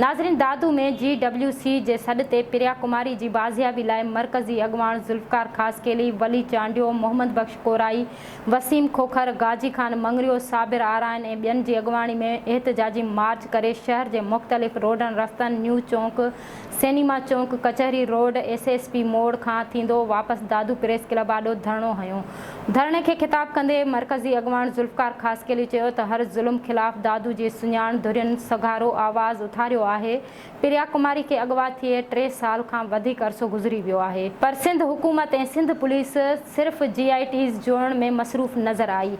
ناظرين Dadu ۾ G W C جي سڏ تي پريا ڪماري جي بازيابي لاء مرڪزي اڳواڻ ذوالفقار خاصخيلي، ولي چانڊيو، محمد بخش ڪورائي، وسيم کوکر، غازي خان مڱريو، صابر آرائين ۽ ٻين جي اڳواڻي ۾ احتجاجي مارچ ڪري شهر جي مختلف روڊن رستن، نيو چونڪ، سئنيما چونڪ، ڪچهري روڊ، ايس ايس پي موڙ کان ٿيندو واپس دادو پريس ڪلب آڏو ڌرڻو هنيو. ڌرڻي کي خطاب ڪندي مرڪزي اڳواڻ ذوالفقار خاصخيلي چيو ته هر ظلم خلاف دادو جي سڃاڻ ڌرين سگهارو آواز اٿاريو آهي، پريا ڪماري کي اغوا ٿئي ٽي سال کان وڌيڪ عرصو گذري ويو آهي، پر سنڌ حڪومت ۽ سنڌ پوليس صرف جي آء ٽيز جوڙڻ ۾ مصروف نظر آئي،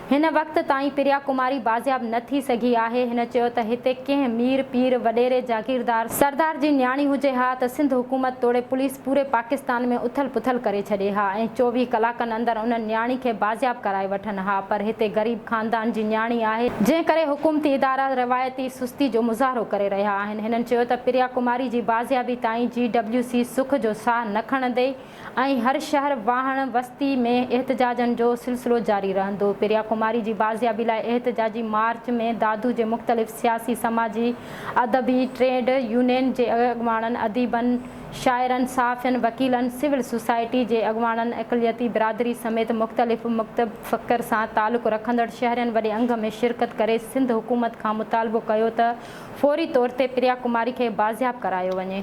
هن وقت تائين پريا ڪماري بازياب نه ٿي سگهي آهي. هن چيو ته هتي ڪنهن مير، پير، وڏيري، جاگيردار، سردار جي نياڻي هجي ها ته سنڌ حڪومت توڙي پوليس پوري پاڪستان ۾ اٿل پٿل ڪري ڇڏي ها ۽ چوويهه ڪلاڪن اندر انهن نياڻي کي بازياب ڪرائي وٺن ها پر هتي غريب خاندان جي نياڻي آهي جنهن ڪري حڪومتي ادارا روايتي سستي جو مظاهرو ڪري رهيا آهن. هنن چيو ته پريا ڪماري جي بازيابي تائين جي ڊبليو سي سک جو ساهه نه کڻندي. ائين هر شهر، واهڻ، وستي ۾ احتجاجن جو سلسلو جاري رهندو. پريا ڪماري جي بازيابي لاء احتجاجي مارچ ۾ دادو جي مختلف سياسي، سماجي، ادبي، ٽريڊ يونين جي اڳواڻن، اديبن، شاعرن، صحافين، وڪيلن، سول سوسائٽي جي اڳواڻن، اقليتي برادري سميت مختلف مڪتب فڪر سان تعلق رکندڙ شهرين وڏي انگ ۾ شرڪت ڪري سنڌ حڪومت کان مطالبو ڪيو ته فوري طور تي پريا ڪماري کي بازياب ڪرايو وڃي.